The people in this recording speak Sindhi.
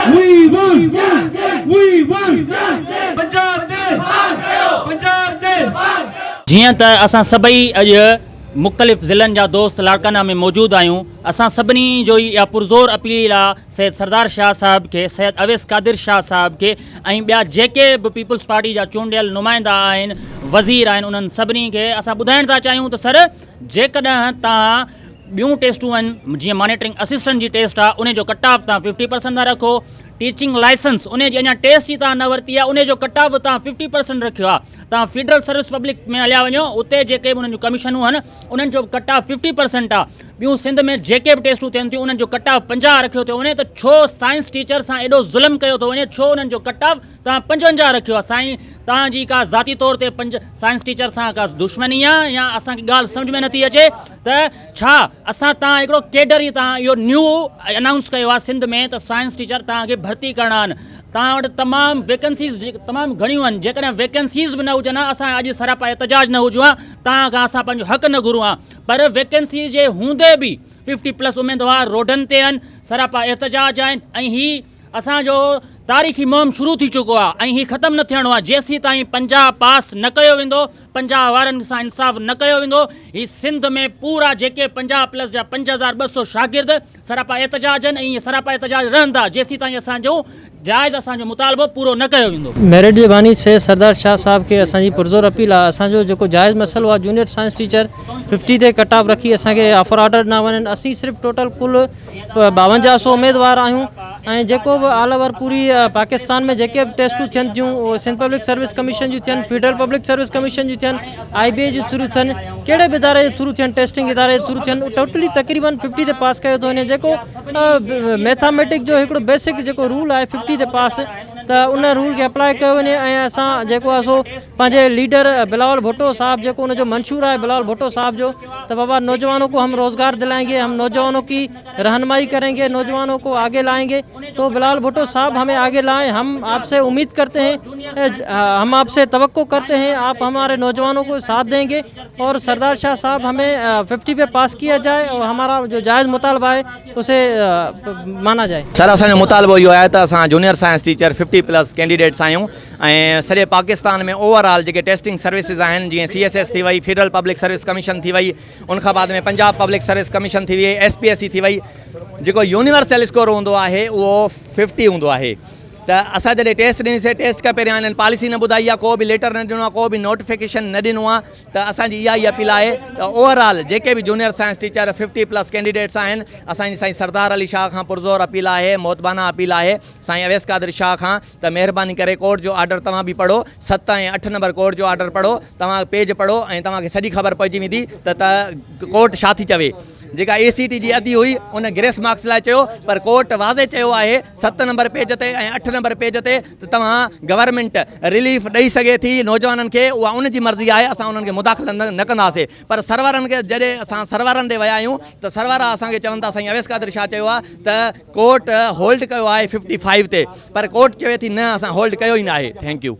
وي ووٽ وي ووٽ پنجاب تي پاس ڪيو پنجاب تي پاس ڪيو. جيئن ته اسان سڀئي اڄ مختلف ضلعن جا دوست لاڙڪانا ۾ موجود آهيون اسان سڀني جو ئي اها پرزور اپيل آ سيد سردار شاهه صاحب کي سيد اويس قادر شاهه صاحب کي ۽ ٻيا جيڪي به پيپلز پارٽي جا چونڊيل نمائندا آهن وزير آهن انهن سڀني کي اسان ٻڌائڻ ٿا چاهيون ته سر جيڪڏهن توهان ٻيون ٽيسٽون آهن جيئن مانيٽرنگ اسسٽنٽ جي ٽيسٽ آ ان جو ڪٽ آف تان ففٽي پرسنٽ تان رکو ٽيچنگ لائسنس ان جي اڃا ٽيسٽ جي تان نه ورتي آ ان جو ڪٽ آف تان ففٽي پرسنٽ رکيو آ تان فيڊرل سروس پبلڪ ۾ هليا وڃو اتي جيڪي به انهن جون ڪميشنون آهن انهن جو ڪٽ آف ففٽي پرسنٽ آ ٻيون سنڌ ۾ جيڪي به ٽيسٽون ٿين ٿيون انهن جو ڪٽ آف پنجاهه رکيو ٿيو وڃي ته ڇو سائنس ٽيچر سان ايڏو ظلم ڪيو ٿو وڃي ڇو انهن جو ڪٽ آف توهان پنجونجاهه رکيو آهي سائين توهان جي ڪا ذاتي طور تي پنج سائنس ٽيچر سان ڪا دشمني آ يا اسان کي ڳالهه سمجھ ۾ نٿي اچي ته ڇا اسان توهان هڪڙو ڪيڊر ئي توهان اهو نيو انائونس ڪيو آهي سنڌ ۾ ته سائنس ٽيچر توهان کي ڀرتي ڪرڻا آهن توهان وٽ تمام ويڪنسيز تمام گهڻيون آهن جيڪڏهن ويڪنسيز به نه هجن ها اسان اڄ سراپا احتجاج نه هجون ها توهان کان اسان پنهنجو حق نه گهرون ها پر ويڪنسيز جي هوندي به ففٽي پلس اميدوار روڊن تي آهن سراپا احتجاج آهن ۽ هي اسان جو تاريخي مهم شروع ٿي چڪو آ ۽ هي ختم نه ٿيڻو آ جيسيتائين پنجاهه پاس نه ڪيو ويندو پنجاهه وارن سان انصاف نه ڪيو ويندو هي سنڌ ۾ پورا جيڪي پنجاهه پلس جا پنج هزار ٻه سو شاگرد سراپا احتجاج آهن ۽ سراپا احتجاج رهندا جيسيتائين اسان جو جائز اسان جو مطالبو پورو نه ڪيو ويندو. ميرٽ جي باني سيد سردار شاهه صاحب کي اسان جي پرزور اپيل آ اسان جو جيڪو جائز مسئلو آ جونيئر سائنس ٽيچر ففٽي تي ڪٽ آف رکي اسان کي آفر آرڊر ڏنا وڃن اسين صرف ٽوٽل ڪل ٻاونجاهه سو اميدوار آهيون ۽ جيڪو به آل اوور پوري پاڪستان ۾ جيڪي به ٽيسٽون ٿين ٿيون اهي سنڌ پبلڪ سروس ڪميشن جون ٿين فيڊرل پبلڪ سروس ڪميشن جون ٿين آئي بي اي جي ٿرو ٿين ڪهڙي به اداري جي ٿرو ٿين ٽيسٽنگ اداري جي ٿرو ٿين ٽوٽلي تقريبن ففٽي تي پاس ڪيو ٿو وڃي جيڪو ميٿاميٽڪ جو هڪڙو بيسڪ جيڪو رول آهي ففٽي تي پاس ته ان رول کي اپلائي ڪيو وڃي ۽ اسان جيڪو آهي سو پنهنجي ليڊر بلاول ڀٽو صاحب جيڪو ان جو منشور آهي بلاول ڀٽو صاحب جو ته بابا نوجوانو ڪو هم روزگار دلائين گي هم نوجوانو ڪي رهنمائي ڪرين گي نوجوانو ڪو آگي لائين گي تو بلال ڀٽو صاحب همي آگي لائين هم آپ سي اميد ڪرتي هين هم آپ سي توقع ڪرتي هين آپ هماري نوجوانو ڪو ساٿ دين گي اور سردار شاھ صاحب همي ففٽي پي پاس ڪيا جائي اور همارا جو جائز مطالبه آهي اسي مانا جائي. سر اسان جو مطالبو اهو آهي ته اسان junior science teacher fifty plus candidates آهيون ۽ سڄي پاڪستان ۾ اوور آل جيڪي ٽيسٽنگ سروسز آهن جيئن سي ايس ايس ٿي وئي فيڊرل پبلڪ سروس ڪميشن ٿي وئي ان کان بعد ۾ پنجاب پبلڪ سروس ڪميشن ٿي وئي ايس پي ايس سي ٿي وئي جيڪو يونيورسل اسڪور هوندو آهي اهو ففٽي هوندو آهي ته اسان جڏهن ٽيسٽ ڏنيسي ٽيسٽ کان پهريان هنن پاليسي نه ٻڌائي آهي ڪو به ليٽر نه ڏنو آهي ڪو به نوٽيفڪيشن نه ڏنو آهي ته اسانجي اها ئي اپيل آهي ته اوور آل جيڪي به junior science teacher fifty plus candidates آهن اسانجي سائين سردار علي شاهه کان پرزور اپيل آهي موتبانه اپيل آهي سائين اويس قادر شاهه کان ته مهرباني ڪري ڪورٽ جو آرڊر توهان به پڙهو ست ۽ اٺ نمبر ڪورٽ جو آرڊر پڙهو توهان پيج پڙهو ۽ توهان کي سڄي خبر پئجي ويندي ته ته ڪورٽ ڇا ٿي چوي جيڪا اي سي ٽي جي ادي هئي ان گريس مارڪس لاء چيو پر ڪورٽ واضح چيو آهي ست نمبر پيج تي ۽ اٺ نمبر پيج تي ته توهان گورنمينٽ رليف ڏئي سگهي ٿي نوجوانن کي اها ان جي مرضي آهي اسان انهن کي مداخلت نه ڪنداسي پر سروارن کي جڏهن اسان سروارن ڏي ويا آهيون ته سروارا اسان کي چون ٿا سائين اويس قادر شاهه چيو آهي ته ڪورٽ هولڊ ڪيو آهي ففٽي فائيو تي پر ڪورٽ چوي ٿي نه اسان هولڊ ڪيو ئي ناهي ٿينڪ يو.